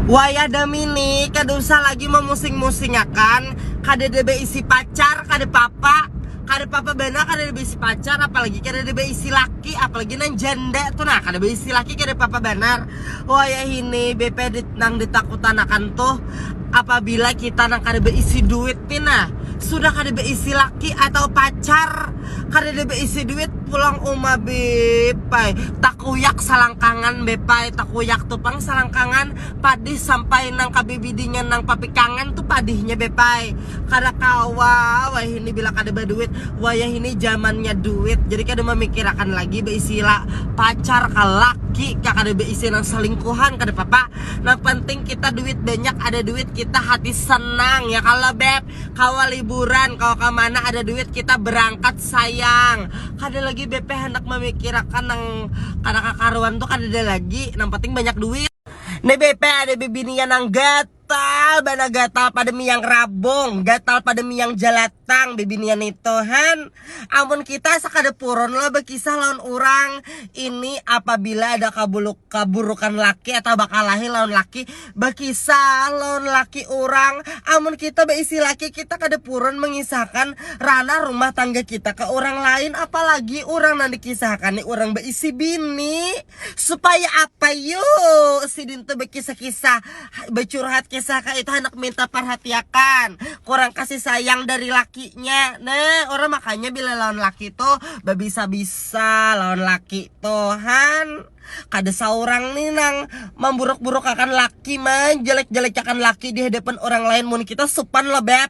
Wayah demi ni kada usah lagi memusing-musingakan, kadada beisi pacar, kada papa, kada papa banar kadada beisi pacar, apalagi kadada beisi laki, apalagi nang janda tu nah kada beisi laki kada papa banar, wayahini bp nang ditakutanakan tuh apabila kita nang kada beisi duit ni nah sudah kada beisi laki atau pacar. kadada beisi duit pulang uma bepai takuyak salangkangan bepai takuyak tu pang salangkangan padih sampai nang kabibidinya nang papikangan tu padihnya bepai kada kawa wayahini bila kada baduit wayahini jamannya duit jadi kada mamikirakan lagi beisi pacar ka laki ka kada beisi nang salingkuhan kada papa nang penting kita duit banyak ada duit kita hati senang ya kalo beb. Kawa liburan, kawa ka mana ada duit kita berangkat sayang. Kada lagi BP handak mamikirakan nang kada kakaruan tu kadada lagi, nang penting banyak duit. Ni BP ada bibinian nang gatal banar gatal pada miyang rabung, gatal pada miyang jalatang bibinian nitu han. Amun kita sakada purun lah bakisah lawan urang, ini apabila ada kabuluk kaburukan laki atau bakalahi lawan laki, bakisah lawan laki urang, amun kita baisi laki kita kada purun mangisahkan ranah rumah tangga kita ka urang lain, apalagi urang nang dikisahkan ni urang baisi bini. Supaya apa yu sidin tu bekisah-kisah becurhat kisah kaya itu handak minta parhatiakan kurang kasih sayang dari lakinya nah orang makanya bila lawan laki tu babisa-bisa lawan laki tu han kada saurang ni nang mamburuk-burukakan laki manjelek-jelekiakan laki dihadapan orang lain mun kita supan lo beb.